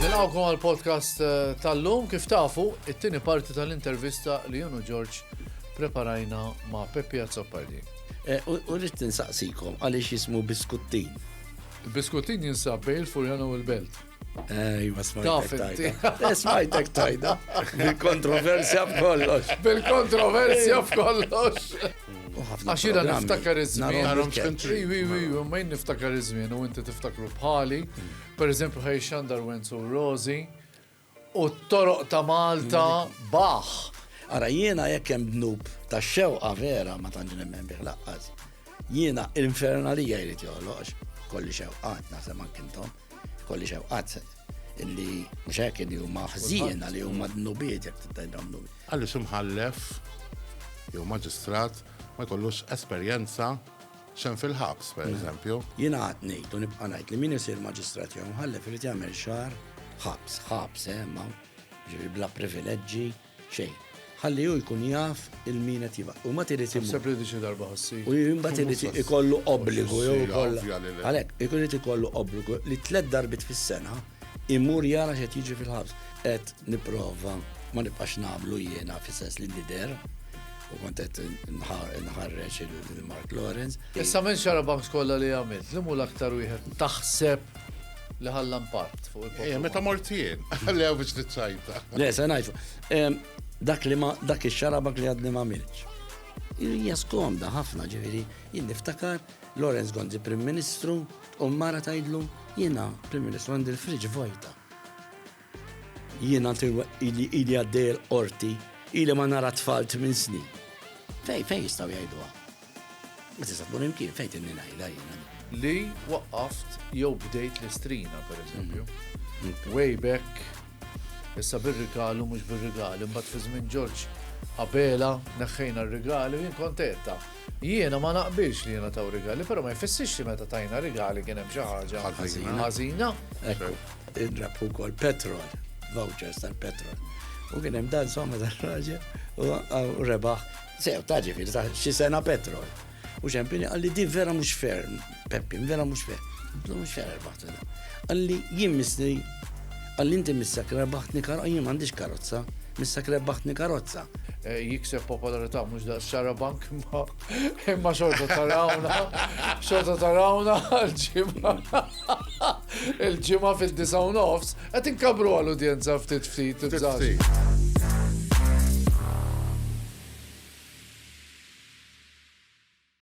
Nilqawkom għal podcast eh, tal-lum kif tafu it-tieni parti tal-intervista li junu Ġorġ preparajna ma' Peppi Azzopardi. Eh, u rrit tinsaqsikom għaliex jismu biskuttin. Il-biskuttin jinsab bejn il-Furjana u l-Belt. Ejwa, smajtek tajda. Smajtek tajda. Bil-kontroversja f'kollox. Bil-kontroversja f'kollox. Għax jina niftakar iż-żmien. Ma jien niftakar iż-żmien u inti tiftakru bħali. Mm. Per eżempju, ħaj xandar Wenzu Rozi u t-toroq ta' Malta mm. baħ. Ara jiena jekk hemm dnub ta' xewqa vera ma tantx nemmen bih laqqas. Jiena l-infernalija jrid joħloqx kolli xewqat naħseb ma kintom. Kolli xewqat illi mhux hekk li huma ħżiena li huma dnubiet jekk tittajbhom dnubi. Għalli ximħallef jew maġistrat ma jkollux esperjenza xem fil-ħabs, per eżempju. Jina għat nejt u nibqa najt li min isir maġistrat jew mħallef irid jagħmel xar ħabs, ħabs, eh, ma ġifi bla privileġġi. xejn. Ħalli hu jkun jaf il min qed jibgħat. U mbagħad irid imur. Naħseb li diġi darba ħassi. U mbagħad irid ikollu obbligu jew ikollha. Għalhekk, ikun irid ikollu obbligu li tliet darbit fis-sena imur jara x'qed jiġi fil-ħabs. Qed nipprova ma nibqax nagħmlu jiena fis-sens li nidher u kont qed nħarreġ il-Mark Lawrence. Issa minn xara banks kollha li għamilt, li mhu l-aktar wieħed taħseb li ħalla impatt fuq il-poplu. Eh, meta mortien, għalli għaw biex t-sajta. Le, se najfu. Dak li ma, dak il-xarabak li għadni ma milċ. Hija skomda ħafna ġiviri, jien niftakar Lorenz Gonzi Prim Ministru u mara tajdlu jiena Prim Ministru għandi l-friġ vojta. Jiena ili ili għaddej il-qorti, ili ma nara tfal minn snin. Fej, fej jistaw jgħiduha. Ma tista' tkun imkien fejn tinni ngħidha jiena. Li waqqaft jew bdejt l-istrina, per eżempju. Mm. Mm. Way back, issa bir-rigalu mhux bir-rigali, mbagħad fi żmien Ġorġ Abela neħħejna r-rigali jien kontetta. Jiena ma naqbilx li jiena taw rigali, però ma jfissirx li meta tajna rigali kien hemm xi ħaġa ħażina. Inrab ukoll petrol, vouchers tal-petrol. U kien hemm dan somma tal-raġel u rebaħ. Sew, ta' ġifieri ta' xi sena petrol. U ċempini għalli di vera mhux ferm, Peppi, vera mhux ferm. Għallu mhux ferm rebaħtu da. Għalli jien misni, għalli inti missak rebaħtni karozza, jien m'għandix karozza, missak rebaħtni karozza. Eh, jikseb popolarità mhux da' xara bank ma' Imma xorta tarawna, xorta tarawna l-ġimma. Il-ġimma fil-disa u nofs, għet inkabru għal-udjenza ftit ftit.